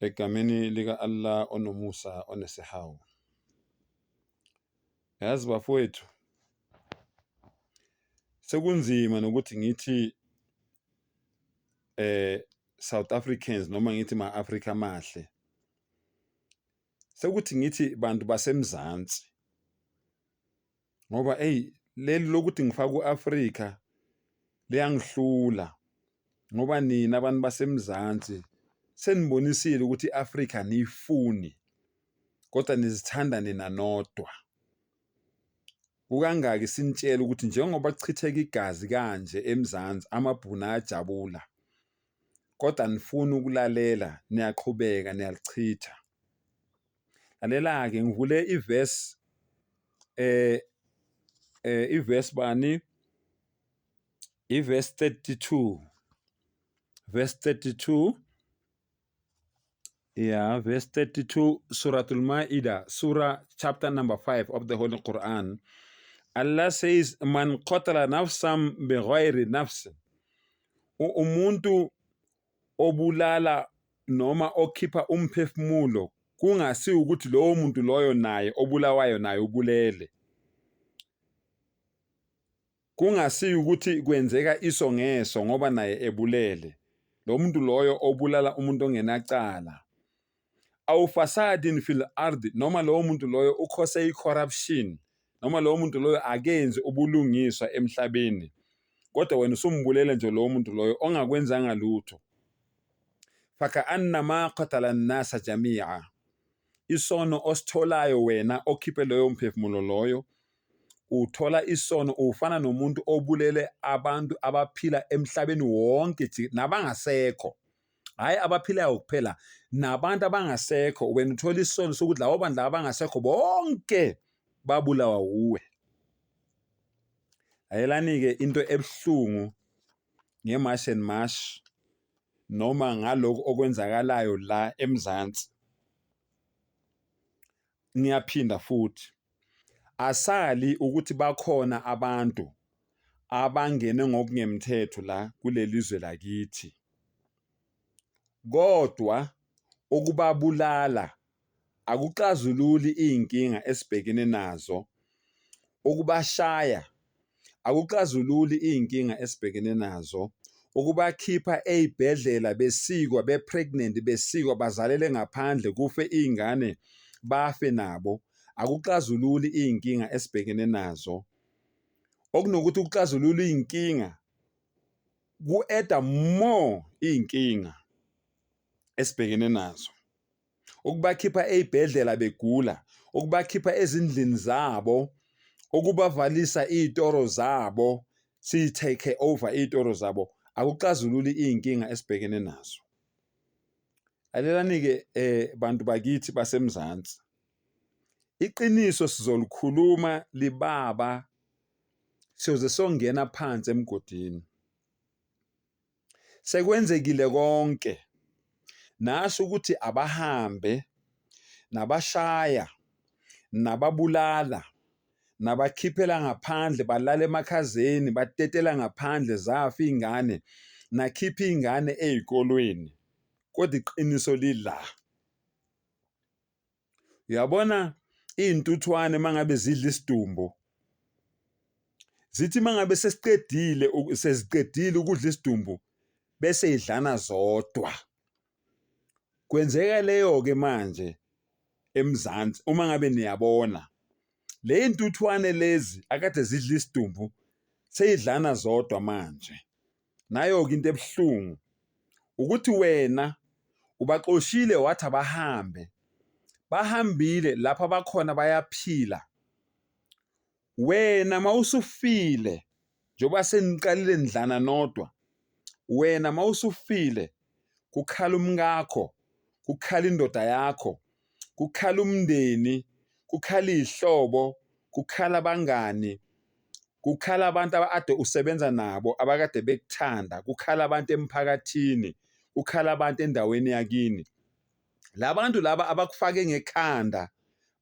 Egameni lika-Allah onomusa onesihawu. Yazi bafowethu, sekunzima nokuthi ngithi eh South Africans noma ngithi ma-Afrika amahle. Sekuthi ngithi bantu baseMzansi. ngoba eyi leli lokuthi ngifake u-Afrika liyangihlula ngoba nina abantu baseMzansi senibonisile ukuthi i-Afrika niyifuni kodwa nizithanda nina nodwa kukangaki sinitshela ukuthi njengoba kuchitheka igazi kanje eMzansi amabhunu ayajabula kodwa nifuni ukulalela niyaqhubeka niyalichitha lalela-ke ngivule ivesi eh eh ivesi bani ivesi 32 verse 32 yeah verse 32 suratul maida surah chapter number 5 of the holy quran allah says man qatala nafsan bighayri nafsin umuntu obulala noma okhipha umphefumulo kungasi ukuthi lowo muntu loyo naye obulawayo naye ubulele kungasi ukuthi kwenzeka iso ngeso ngoba naye ebulele lo muntu loyo obulala umuntu ongenacala awu fasadin fil ard noma lowo muntu loyo ukhose i-corruption noma lowo muntu loyo akenzi ubulungiswa emhlabeni kodwa wena usumbulele nje lowo muntu loyo ongakwenzanga lutho fakaannama qatala nnasa jamia isono ositholayo wena okhiphe loyo mphefumulo loyo uthola isono ufana nomuntu obulele abantu abaphila emhlabeni wonke nabangasekho hhayi abaphilayo kuphela nabantu abangasekho wena uthola isono sokuthi labo bantu laba abangasekho bonke babulawa wuwe ayelani-ke into ebuhlungu nge-march and march noma ngalokhu okwenzakalayo la emzansi ngiyaphinda futhi asali ukuthi bakhona abantu abangene ngokungemthetho la kuleli zwe lakithi kodwa ukubabulala akuxazululi iy'nkinga esibhekene nazo, ukubashaya akuxazululi iy'nkinga esibhekene nazo ukubakhipha ey'bhedlela besikwa be-pregnant besikwa bazalele ngaphandle kufe iy'ngane bafe nabo akuxazululi iy'nkinga esibhekene nazo okunokuthi ukuxazulula iy'nkinga ku-eda more iy'nkinga esibhekene nazo. ukubakhipha ey'bhedlela begula ukubakhipha ezindlini zabo ukubavalisa iy'toro zabo siyi-take over iy'toro zabo akuxazululi iy'nkinga esibhekene nazo alelani-ke um bantu bakithi basemzansi iqiniso sizolikhuluma libaba siyoze songena phansi emgodini sekwenzekile konke nasho ukuthi abahambe nabashaya nababulala nabakhiphela ngaphandle balala emakhazeni batetela ngaphandle zafa iy'ngane nakhipha iy'ngane ey'kolweni kodwa iqiniso lila. Uyabona iy'ntuthwane uma ngabe zidla isidumbu zithi uma ngabe sesiqedile seziqedile ukudla isidumbu bese idlana zodwa kwenzeka leyo-ke manje eMzansi uma ngabe niyabona le y'ntuthwane lezi akade zidla isidumbu seyidlana zodwa manje. Nayo-ke into ebuhlungu ukuthi wena ubaxoshile wathi abahambe, bahambile lapho abakhona bayaphila. Wena mawusufile njengoba seniqalile nidlana nodwa, wena mawusufile kukhala umkakho, kukhala indoda yakho, kukhala umndeni, kukhala iy'hlobo, kukhala abangani, kukhala abantu ade usebenza nabo abakade bekuthanda, kukhala abantu emphakathini, kukhala abantu endaweni yakini. La bantu laba abakufake ngekhanda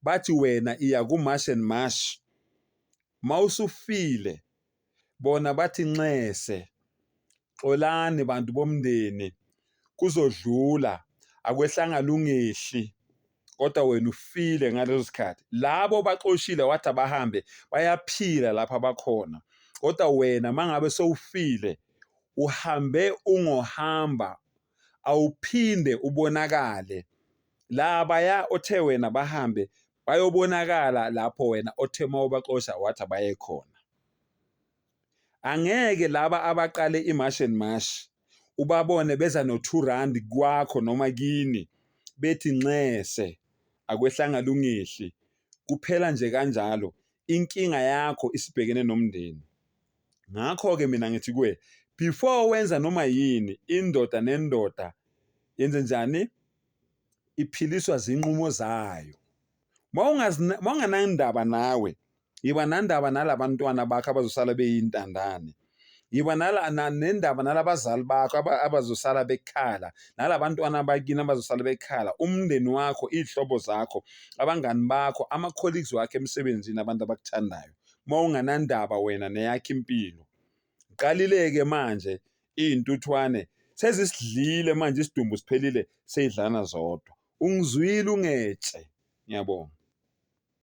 bathi wena iya ku-march and march mawusufile. bona bathi nxese xolani bantu bomndeni kuzodlula akwehlanga lungehli kodwa wena ufile ngaleso sikhathi labo baxoshile wathi abahambe bayaphila lapha abakhona kodwa wena mangabe sowufile uhambe ungohamba awuphinde ubonakale labaya othe wena bahambe bayobonakala lapho wena othe uma ubaxosha wathi abaye khona angeke laba abaqale imash and mash ubabone beza no-two rand kwakho noma kini bethi nxese akwehlanga lungihli kuphela nje kanjalo inkinga yakho isibhekene nomndeni ngakho-ke mina ngithi kuye before wenza noma yini indoda nendoda yenze njani iphiliswa zinqumo zayo mawunganandaba nawe yiba nandaba nalabantwana bakho abazosala beyintandane yiba nala nendaba nalabazali bakho abazosala bekhala nalabantwana bakini abazosala bekhala umndeni wakho iy'hlobo zakho abangani bakho ama-colleagues wakho emsebenzini abantu abakuthandayo. uma unganandaba wena neyakho impilo qalile-ke manje iy'ntuthwane sezisidlile manje isidumbu siphelile seyidlana zodwa ungizwile ungetshe ngiyabonga